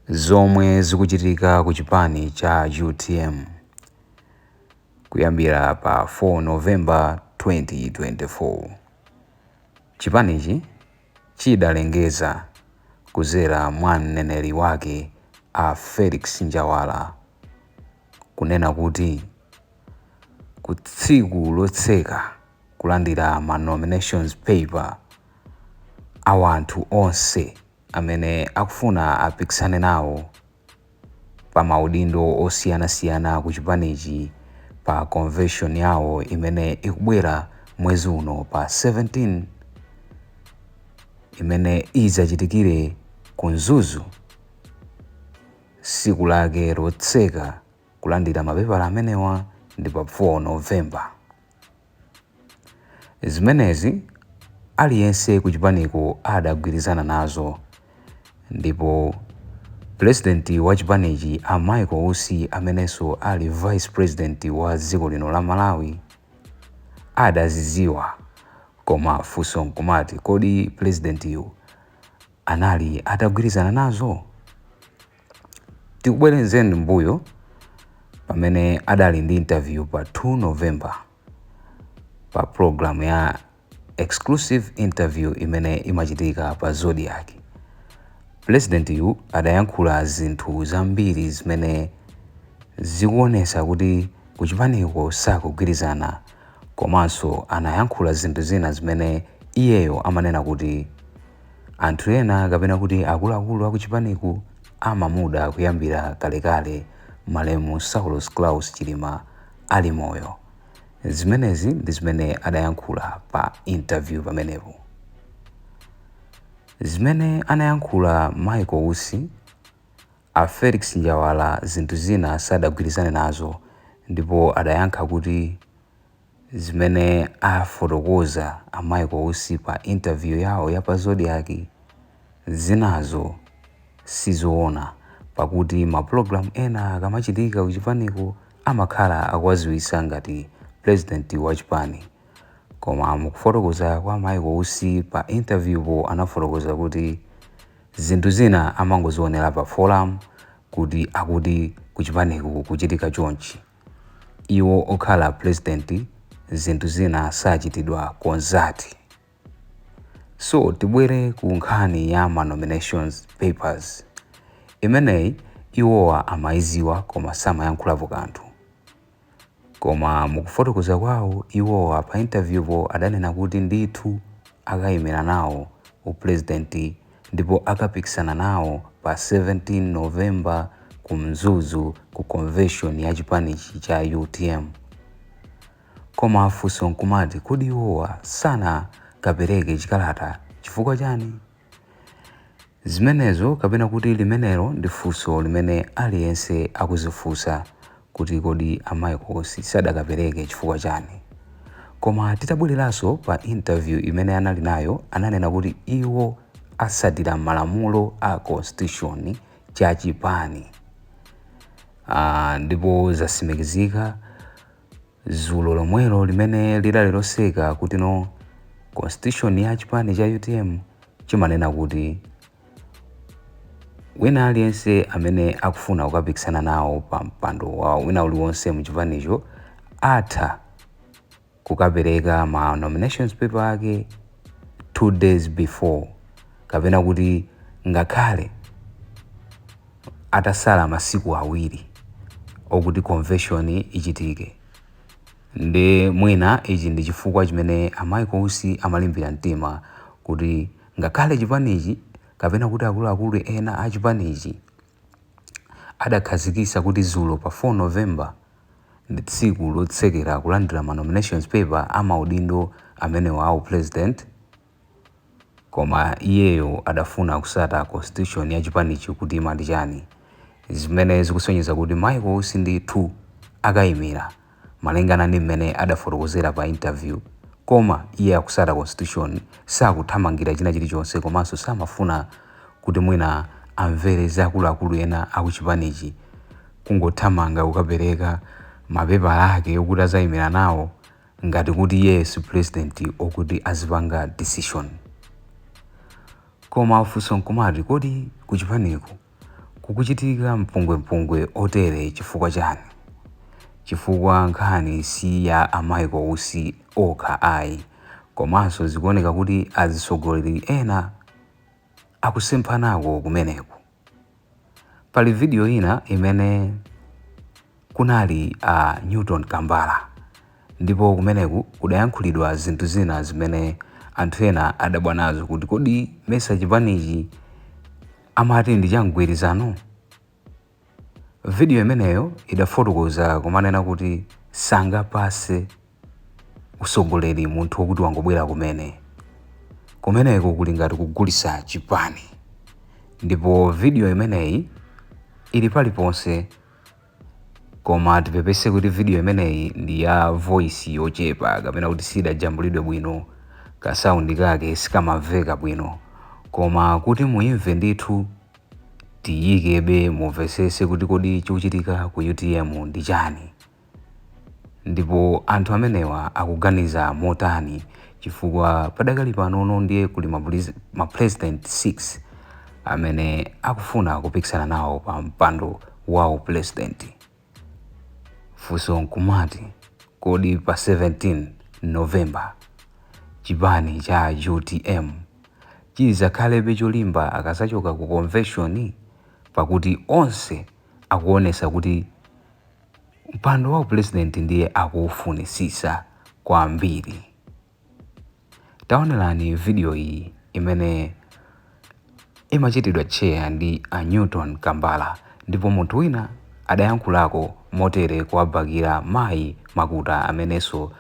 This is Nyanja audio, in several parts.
zomwe zikuchitika ku chipani cha utm kuyambira pa 4 November 2024 chipanichi chidalengeza kuzera mwa mneneri wake a felix njawala kunena kuti ku tsiku lotseka kulandira ma nominations paper a wanthu onse amene akufuna apikisane nawo pa ma udindo osiyana siyana ku chipanichi pa convention yawo imene ikubwera mwezi uno pa 17 imene idzachitikire ku Mzuzu siku lake lotseka kulandira mapepala amenewa ndi pa 4 November. Zimenezi aliyense kuchipaniko adagwirizana nazo ndipo President wa chipanichi a Michael Usi amenenso ali Vice President wa dziko lino la Malawi adazidziwa koma funso nkumati kodi President yu anali atagwirizana nazo? Tikubwezeni mbuyo pamene adali ndi interview pa 2 November pa program ya exclusive interview imene imachitika pa Zodiak. Pulezidenti yu adayankhula zinthu zambiri zimene zikuonesa kuti kuchipaniko sakugwirizana komanso anayankhula zinthu zina zimene iyeyo amanena kuti Anthu ena kapena kuti akuluakulu a kuchipaniku amamuda kuyambira kalekale malemu Saulos Klaus Chilima ali moyo. Zimenezi ndi zimene adayankhula pa interview pamenepo. Zimene anayankhula Michael Usi, a Felix Njawala zinthu zina sadagwirizane nazo ndipo adayankha kuti, Zimene afotokoza a Michael Usi pa interview yawo ya pa Zodiak zinazo si zoona pakuti ma program ena akamachitika kuchipaniko amakhala akuwaziwisa ngati President wa chipani koma mukufotokoza kwa Michael Usi pa interview po anafotokoza kuti zinthu zina amangozionera pa forum kuti akuti kuchipaniko kukuchitika chonchi. iwo okhala president zinthu zina sachitidwa consult. So tibwere ku nkhani ya ma nominations papers, imeneyi iwowa amaiziwa koma samayankhulapo kanthu. Koma mukufotokoza kwawo iwowa pa interview po adanena kuti ndithu akaimira nawo u president ndipo akapikisana nawo pa 17 November ku Mzuzu ku convention ya chipanichi cha UTM. Koma funso nkumati kodi iwowa sanakapereke chikalata chifukwa chani? Zimenezo kapena kuti limenelo ndi funso limene aliyense akuzifunsa kuti kodi a Michael Usi sadakapereke chifukwa chani koma titabwereranso pa interview imene anali nayo ananena kuti iwo asatira malamulo a constitution cha chipani aah ndipo zasimikizika zulo lomwelo limene lidali lotseka kuti no constitution ya chipani cha UTM chimanena kuti Wina aliyense amene akufuna kukapikisana nawo pa mpando wawo wina uliwonse mu chipanicho atha kukapereka ma nominations paper ake two days before kapena kuti ngakhale atasala masiku awiri okuti convention ichitike. Nde mwina ichi ndi chifukwa chimene a Michael Usi amalimbira mtima kuti Ngakhale chipanichi kapena kuti akuluakulu ena a chipanichi adakhazikisa kuti zulo pa 4 November ndi tsiku lotsekera kulandira ma nominations paper a maudindo amenewa a upresident, koma iyeyo adafuna kusata constitution ya chipanichi kuti imati chani, zimene zikusonyeza kuti Michael Usi ndithu akaimira malingana ndi mmene adafotokozera pa interview koma iye akusata constitution sakuthamangira china chilichonse komanso samafuna kuti mwina amvere za akuluakulu ena akuchipanichi kungothamanga kukapereka mapepala ake okuti azaimira nawo ngati kuti iyeyo si president okuti azipanga decision koma funso nkumati kodi kuchipaniko Kukuchitika mpungwempungwe otere chifukwa chani? Chifukwa nkhani si ya a Michael Usi okha ayi komanso zikuoneka kuti azisogoleri ena akusemphanako kumeneku. Pali video ina imene kunali a Newton Kambala ndipo kumeneku kudayankhulidwa zinthu zina zimene anthu ena adabwa nazo kuti kodi mesa chipanichi amati ndi cha mgwirizano? Video imeneyo idafotokoza kumanena kuti sangapase usogoleri munthu wokuti wangobwera kumene. Kumeneko kuli ngati kugulisa chipani. Ndipo video imeneyi ili paliponse. koma tipepese kuti video imeneyi ndi ya voice yochepa kapena kuti siidajambulidwe bwino ka sound kake sikamamveka bwino koma kuti muimve ndithu tiyikebe mumvesese kuti kodi chikuchitika ku utm ndi chani. Ndipo anthu amenewa akuganiza motani? Chifukwa padakali panono ndiye kuli ma president 6 amene akufuna kupikisana nawo pa mpando wa u president. Funso nkumati kodi pa 17 November chipani cha utm chizakhalebe cholimba akazachoka ku convention? Pakuti onse akuonesa kuti. Mpando wa upulezidenti ndiye akuufunitsitsa kwambiri. Taonerani vidiyo iyi imene imachitidwa tcheya ndi a Newton Kambala ndipo munthu wina adayankhulako motere kuwabakira mayi Makuta amenenso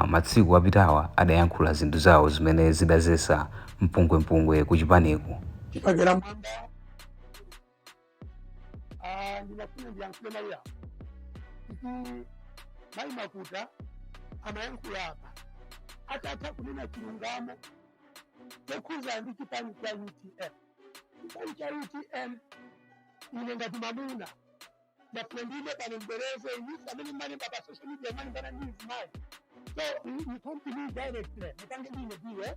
matsiku apitawa adayankhula zinthu zawo zimene zidazetsa mpungwempungwe kuchipaniku. Chibakera Mmwamba. Ah, ndinafuna ndiyankhule mayi awo kuti mayi makuta amayankhula apa atata kunena chilungamo chokhuza ndi chipani cha utm chipani cha utm ine ngati mamuna ndafuna ndiime pano mbereze inusi amene mmalemba pa social media mmalembana ndi mzimayi so you come to me directly mutange ndine ndiwe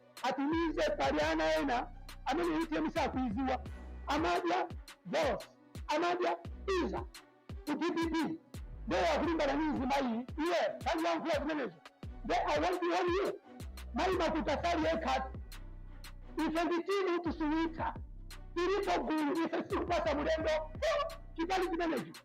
atumize pali ana ena amene utm sakuiziwa amadya bonzi amadya za ku dpp ndiye akulimbana ndi mzimayi iye tandiyankhula zimenezo nde i want to warn you mayi makuta sali yekhatu ife ndi timu tisuwitha tilipo gulu ife sikupasa mulendo chipali chimenecho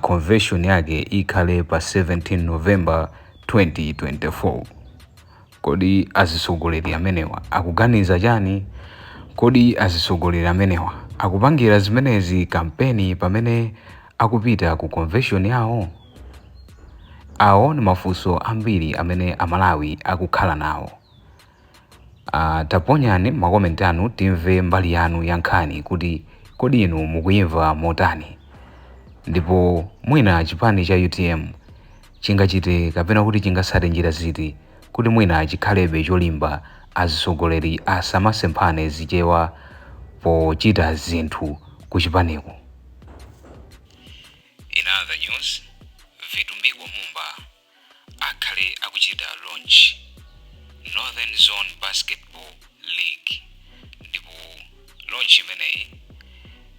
convention yake ikhale pa 17 november 2024 kodi azitsogoleri amenewa akuganiza chani kodi azitsogoleri amenewa akupangira zimenezi kampeni pamene akupita ku convention yawo awo ndi mafunso ambiri amene amalawi akukhala nawo Taponyani ma comment anu timve mbali yanu ya nkhani kuti kodi inu mukuyimva motani ndipo mwina chipani cha utm chingachite kapena kuti chingasate njira ziti kuti mwina chikhalebe cholimba azisogoleri asamasemphane zichewa pochita zinthu ku chipaniku. In other news, Vitumbiko Mumba. akhale akuchita launch Northern Zone Basketball League ndipo launch imeneyi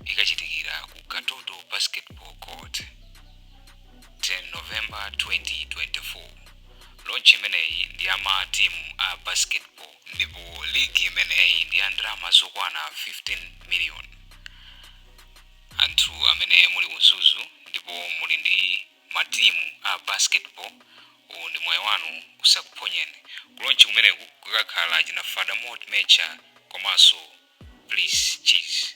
ikachitikira ku Katoto Basketball Court 10 November 2024 launch imeneyi ndi ya ma team a basketball ndipo league imeneyi ndi ya ndalama zokwana 15 million anthu amene muli Mzuzu ndipo muli ndi matimu a basketball uwu ndi mwayi wanu usakuphonyeni ku launch kumeneku kukakhala achina Fada Moti Mecha komanso bliss cheese.